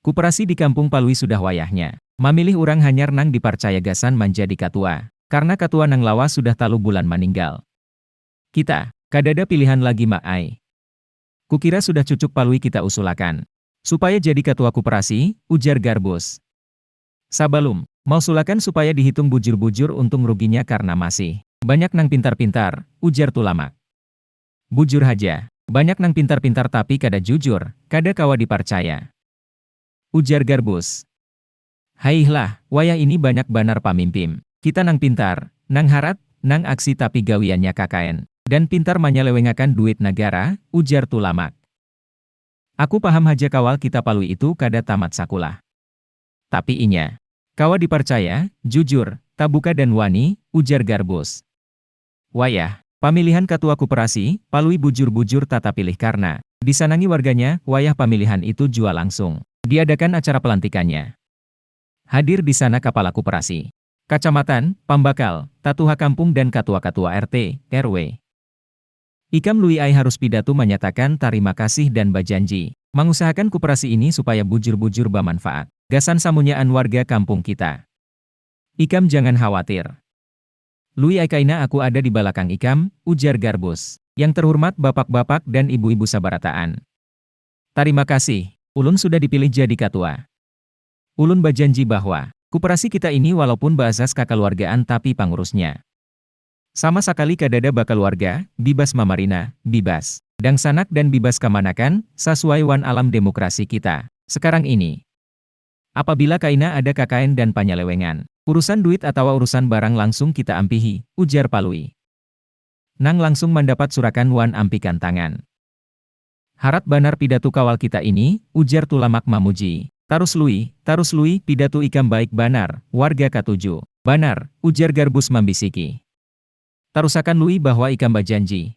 Kuperasi di Kampung Palui sudah wayahnya mamilih urang hanyar nang diparcaya gasan manjadi katua, karna katua nang lawas sudah talu bulan maninggal. Kita, kadada pilihan lagi Mbak ai. Kukira sudah cucuk Palui kita usulakan. Supaya jadi katua kuperasi, ujar Garbus. Sabalum, mausulakan supaya dihitung bujur-bujur untung ruginya karna masih. Banyak nang pintar-pintar, ujar Tulamak. Bujur haja, banyak nang pintar-pintar tapi kada jujur, kada kawa diparcaya. Ujar Garbus. Haihlah, wayah ini banyak banar pamimpim kita nang pintar, nang harat, nang aksi tapi gawiannya kkn dan pintar manyalewengakan duit nagara, ujar Tulamak. Aku paham haja kawal kita Palui itu kada tamat sakulah. Tapi inya. Kawa diparcaya, jujur, tabuka dan wani, ujar Garbus. Wayah pamilihan katua kuperasi, Palui bujur-bujur tata pilih karna disanangi warganya, wayah pamilihan itu jua langsung diadakan acara pelantikannya. Hadir di sana kapala kuperasi, kacamatan, pambakal, tatuha kampung dan katua-katua RT, RW. Ikam Lui ai harus pidatu manyatakan tarima kasih dan bajanji mangusahakan kuperasi ini supaya bujur-bujur bamanfaat gasan samunyaan warga kampung kita. Ikam jangan khawatir. Lui ai kaina aku ada di balakang ikam, ujar Garbus. Yang terhurmat bapak-bapak dan ibu-ibu sabarataan. Tarima kasih, ulun sudah dipilih jadi katua. Ulun bajanji bahwa, kuperasi kita ini walaupun baasas kakaluargaan tapi pangurusnya. Sama sakali kadada bakaluarga, bibas mamarina, bibas. Dangsanak dan bibas kamanakan, sasuai wan alam demokrasi kita. Sekarang ini. Apabila kaina ada kakaen dan panyalewengan, urusan duit atawa urusan barang langsung kita ampihi, ujar Palui. Nang langsung mandapat surakan wan ampikan tangan. Harat banar pidatu kawal kita ini, ujar Tulamak mamuji. Tarus Lui, tarus Lui, pidatu ikam baik banar, warga katuju. Banar, ujar Garbus mambisiki. Tarusakan Lui bahwa ikam bajanji.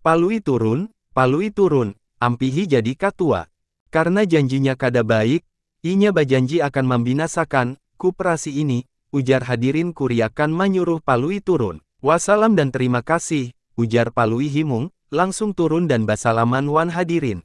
Palui turun, Palui turun, ampihi jadi katua. Karna janjinya kada baik, inya bajanji akan mambinasakan kuprasi ini, ujar hadirin kuriakan manyuruh Palui turun. Wasalam dan terima kasih, ujar Palui himung, langsung turun dan basalaman wan hadirin.